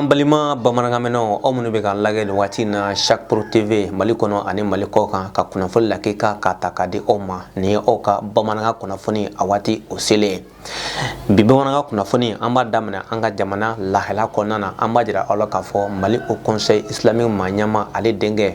balima bamanankanmɛnnaw aw minnu bɛ k'an lagɛ nin waati in na chaque pro tv mali kɔnɔ ani mali kɔ kan ka kunnafoni lakika ka ta ka di aw ma nin ye aw ka bamanankan kunnafoni a waati o selen bi bamanankan kunnafoni an b'a daminɛ an ka jamana lahala kɔnɔna na an b'a jira aw la k'a fɔ mali haut conseil islamique maa ɲɛma ale denkɛ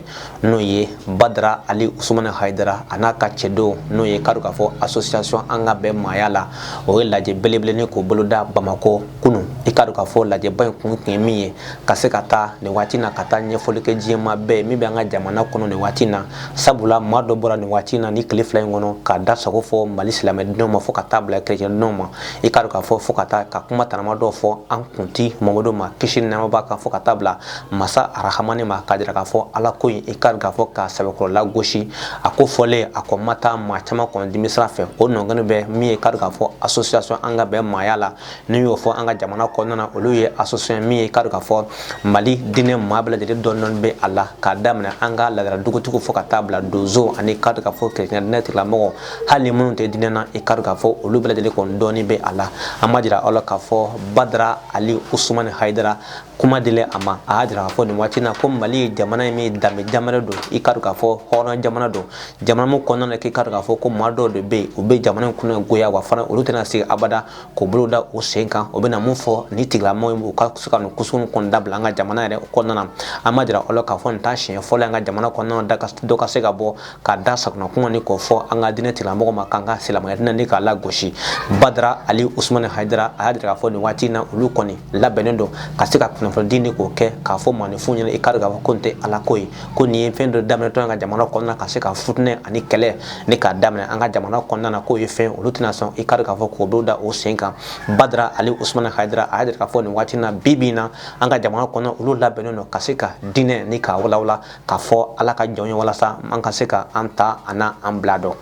n'o ye badara ali usumani hayidara a n'a ka cɛdenw n'o ye k'a dɔn k'a fɔ association an ka bɛn maaya la o ye lajɛ belebele k'o boloda bamakɔ kunun i k'a dɔn k'a fɔ lajɛba in kun tun ye min ye ka se ka taa nin waati na ka taa ɲɛfɔli kɛ diinɛ maa bɛɛ min bɛ an ka jamana kɔnɔ nin waati na sabula maa dɔ bɔra nin waati na ni tile fila in kɔnɔ k'a da sago fɔ mali silamɛdenw ma fo ka taa bila kerecɛndenw ma i k'a dɔn k'a fɔ fo ka taa ka kuma tanama dɔw fɔ an kunti mamadu ma kisi ni nɛɛma b'a kan fo ka taa bila masa arahamani ma k'a jira k'a fɔ ala ko in i k'a dɔn k'a fɔ ka sɛbɛkɔrɔ lagosi a ko fɔlen a ko ma taa maa caman kɔnɔ dimisira fɛ o nɔgɔni bɛ min ye k'a dɔn k'a fɔ association an ka bɛn maaya la n'i y'o fɔ an ka jamana kɔnɔna na olu ye association min ye k'a dɔn k'a fɔ mali diinɛ maa bɛɛ lajɛlen dɔɔni dɔɔni bɛ a la k'a daminɛ an ka ladala dugutigiw fo ka taa bila donsow ani k'a dɔn k'a fɔ kerecɛn diinɛ tigilamɔgɔ hali ni minnu tɛ diinɛ na i k'a dɔn k'a fɔ olu bɛɛ lajɛlen kɔni dɔɔni bɛ a la an b'a jira aw la k'a fɔ badara ali usumani hayidara kuma dilen a ma a y'a jira k'a fɔ nin waati na ko mali ye jamana ye min danbe jamana don i k'a dɔn k'a fɔ hɔrɔn jamana don jamana min kɔnɔna na k'i k'a dɔn k'a fɔ ko maa dɔw de bɛ yen u bɛ jamana in kunnagoya wa fana olu tɛna sigi abada k'u bolo da u sen kan u bɛna mun fɔ ni tigilamɔgɔ ye u ka se ka nin ko sugu kɔni dabila an ka jamana yɛrɛ kɔnɔna na an b'a jira aw la k'a fɔ nin t'a siɲɛ fɔlɔ an ka jamana kɔnɔna na dɔ ka se ka bɔ ka da sagona kuma ni k'o fɔ an ka diinɛ tigilamɔgɔ ma k'an ka silamɛya diinɛ ni k'a lagosi badara ali usumani hayidara a y'a jira k'a fɔ nin waati in na olu kɔni labɛnnen don ka se ka kunnafonidi ni k'o kɛ k'a fɔ maaninfinw ɲɛna i k'a dɔn k'a fɔ ko nin tɛ ala ko ye ko nin ye fɛn dɔ daminɛtɔ ye an ka jamana kɔnɔna na ka se ka futinɛ ani kɛlɛ ni k'a daminɛ an ka jamana kɔnɔna na k'o ye fɛn olu tɛna sɔn i k'a dɔn k'a fɔ k'o bolo da o sen kan badara ali usumani hayidara a y'a jira k'a fɔ nin waati in na bi bi in na an ka jamana kɔnɔ olu labɛnnen don ka se ka diinɛ ni k'a walawala k'a fɔ ala ka jɔn ye walasa an ka se ka an ta ani an bila dɔn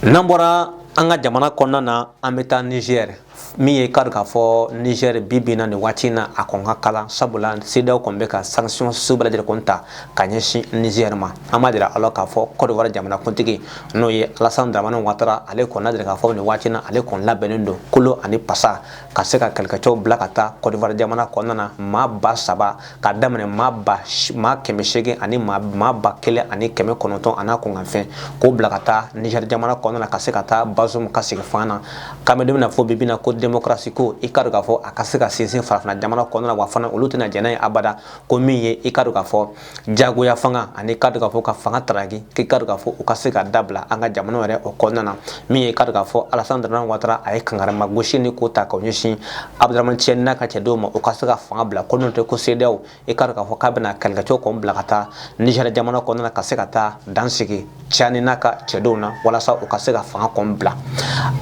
n'an bɔra an ka jamana kɔnɔna na an bɛ taa nizɛri min ye k'a dɔn k'a fɔ nizɛri bi bi in na nin waati in na a kɔni ka kalan sabula cedeao kɔni bɛ ka sansiyɔn sugu bɛɛ lajɛlen kɔni ta ka ɲɛsin nizɛri ma an b'a jira aw la k'a fɔ kɔdiwari jamana kuntigi n'o ye alasan dramani watara ale kɔni y'a jira k'a fɔ nin waati na ale kɔni labɛnnen don kolo ani pasa ka se ka kɛlɛkɛcɛw bila ka taa kɔdiwari jamana kɔnɔna na maa ba saba ka daminɛ maa kɛmɛ seegin ani maa ba kelen ani kɛmɛ kɔnɔntɔn an'a kunkanfɛn k'o bila ka taa nizɛri jamana kɔnɔna na ka se ka taa bazum ka segin fanga na k'an bɛ don min na fɔ bibi na ko demokarasi ko i k'a dɔn k'a fɔ a ka se ka sinsin farafina jamana kɔnɔna na wa fana olu tɛna jɛn n'a ye abada ko min ye i k'a dɔn k'a fɔ jagoya fanga ani k'a dɔn k'a fɔ ka fanga taraki k'i k'a dɔn k'a fɔ u ka se ka dabila an ka jamana yɛrɛ o kɔnɔna na min ye k'a dɔn k'a fɔ alasan daraman watara a ye kankarama gosi ni k'o ta k'o ɲɛsin abuduraman cani n'a ka cɛdenw ma u ka se ka fanga bila ko n'o tɛ ko seedaw i k'a dɔn k'a fɔ k'a bɛna kɛlɛkɛcɛw kɔn bila ka taa nizɛri jamana kɔnɔna na ka se ka taa dan sigi cani n'a ka cɛdenw na walasa u ka se ka fanga kɔn bila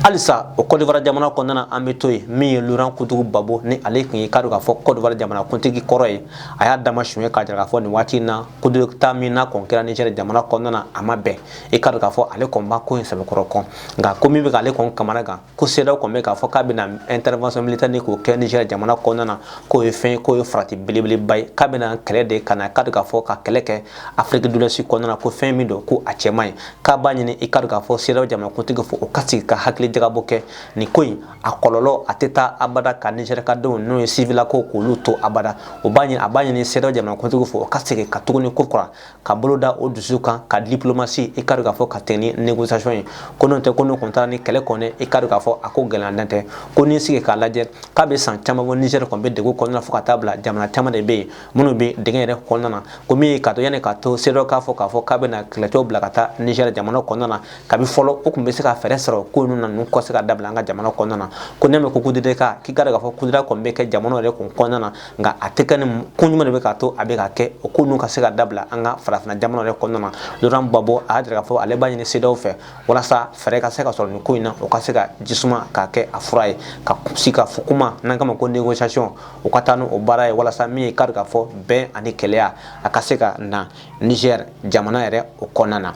halisa o kɔdiwari jamana kɔnɔna na an bɛ to yen min ye loran kudu gbagbo ni ale tun ye k'a dɔn k'a fɔ kɔdiwari jamana kuntigi kɔrɔ ye a y'a dama suɲɛ k'a jira k'a fɔ nin waati in na kudeta min n'a kɔn kɛra nizɛri jamana kɔnɔna na a ma bɛn i k'a dɔn k'a fɔ ale kɔn b'a ko in sɛbɛkɔrɔ kɔn nka ko min bɛ k'ale kɔn kamanagan ko sedaw kɔn bɛ k'a fɔ k'a bɛna intervention militaire ni k'o kɛ niger jamana kɔnɔna na k'o ye fɛn ye k'o ye farati belebeleba ye k'a bɛna kɛlɛ de ka na k'a dɔn k'a fɔ ka kɛlɛ kɛ afrique de l'ouest kɔnɔna na ko fɛn min don ko a cɛ man ɲi k'a b'a ɲini i k'a dɔn k'a fɔ sedaw jamanakuntigiw fɛ o ka sigi ka hakili jagabɔ kɛ nin ko in a kɔlɔlɔ a tɛ taa abada ka niger ka denw n'o ye sivilako k'olu to abada o b'a ɲini a b'a ɲini sedaw jamanakuntigiw fɛ o ka segin ka tuguni ko kura ka bolo da o dusu kan ka diplomasi i k'a dɔn k'a fɔ ka tɛmɛ ni négociation ye ko n'o tɛ ko n'o kun taara ni kɛlɛ kɔni i k'a dɔn k'a fɔ a ko gɛlɛya dan tɛ ko n'i sigi k'a lajɛ k'a bɛ san caman bɔ Niger kɔni bɛ degun kɔnɔna na fo ka taa bila jamana caman de bɛ yen minnu bɛ dingɛ yɛrɛ kɔnɔna na ko min ye k'a to yanni k'a to CEDEAO k'a fɔ k'a fɔ k'a bɛna kɛlɛcɛw bila ka taa Niger jamana kɔnɔna na kabi fɔlɔ o tun bɛ se ka fɛɛrɛ sɔrɔ ko ninnu na ninnu ka se ka dabila an ka jamana kɔnɔna na ko n'i mɛn ko kudeta k'i k'a dɔn k'a fɔ kudeta kɔni bɛ kɛ jamana yɛrɛ kun kɔnɔna na nka a tɛ kɛ ni ko ɲuman de bɛ k'a to a bɛ ka kɛ o ko ninnu ka se ka dabila an ka farafinna jamana yɛrɛ kɔnɔna na Laurent Gbagbo a y'a jira k'a fɔ ale b'a ɲini CEDEAO fɛ walasa fɛɛrɛ ka se ka sɔrɔ nin ko in na o ka se ka jisuma k'a kɛ a fura ye ka sigikafɔ kuma n'an k'a ma ko négociation o ka taa n'o baara ye walasa min ye k'a dɔn k'a fɔ bɛn ani kelenya a ka se ka na Niger jamana yɛrɛ o kɔnɔna na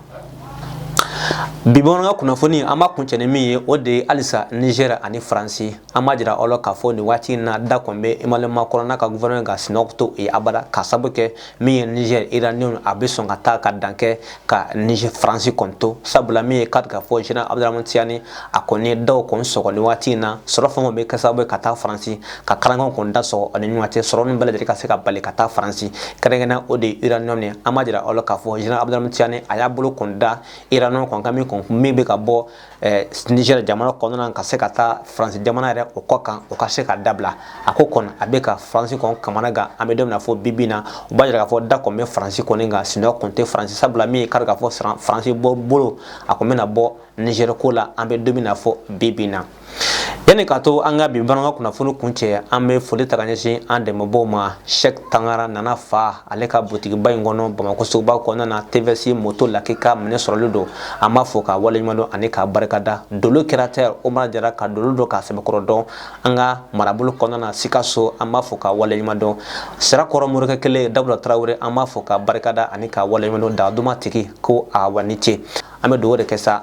bi bamanankan kunnafoni an b'a kuncɛ ni min ye o de ye halisa Niger ani Faransi an b'a jira aw la k'a fɔ nin waati in na da kɔni bɛ emmanuel macron n'a ka gouvernement ka sinɔgɔ to yen abada ka sabu kɛ min ye niger uranium a bɛ sɔn ka taa ka dan kɛ ka niger faransi kɔni to sabula min ye k'a dɔn k'a fɔ general abdourahamane tiani a kɔni ye daw kɔni sɔgɔ nin waati in na sɔrɔ fɛn o bɛ kɛ sababu ye ka taa faransi ka kalankanw kɔni da sɔgɔ ani ɲɔgɔn cɛ sɔrɔ min bɛɛ lajɛlen ka se ka bali ka taa faransi kɛrɛnkɛrɛnnenya o de ye uranium ye an b'a jira aw la k'a fɔ general abdourahamane tiani a y'a bolo kɔni da uranium kɔni kan min kɔni min bɛ ka bɔ Niger jamana kɔnɔna ka se ka taa France jamana yɛrɛ o kɔ kan o ka se ka dabila a ko kɔni a bɛ ka France kɔn kamanagan an bɛ don min na fɔ bibi na o b'a jira k'a fɔ degun bɛ France kɔni kan sinɔgɔ tɛ France sabula min ye kari k'a fɔ France bolo a kɔn bɛna bɔ Niger ko la an bɛ don min na fɔ bibi na yanni ka to an ka bi bamanankan kunnafoni kuncɛ an bɛ foli ta ka ɲɛsin an dɛmɛbaaw ma Sɛk Tangara Nana fa ale ka butigiba in kɔnɔ Bamakɔ suguba kɔnɔna na tvs moto lakika minɛn sɔrɔli don an b'a fo k'a waleɲuman dɔn ani k'a barikada dolo caractère Umar Jara ka dolo dɔn k'a sɛbɛkɔrɔ dɔn an ka marabolo kɔnɔna na Sikaso an b'a fo k'a waleɲuman dɔn Sirakɔrɔ morikɛ kelen Dawuda Tarawele an b'a fo k'a barikada ani k'a waleɲuman dɔn daduma tigi ko a wa ni ce an bɛ dugawu de kɛ sa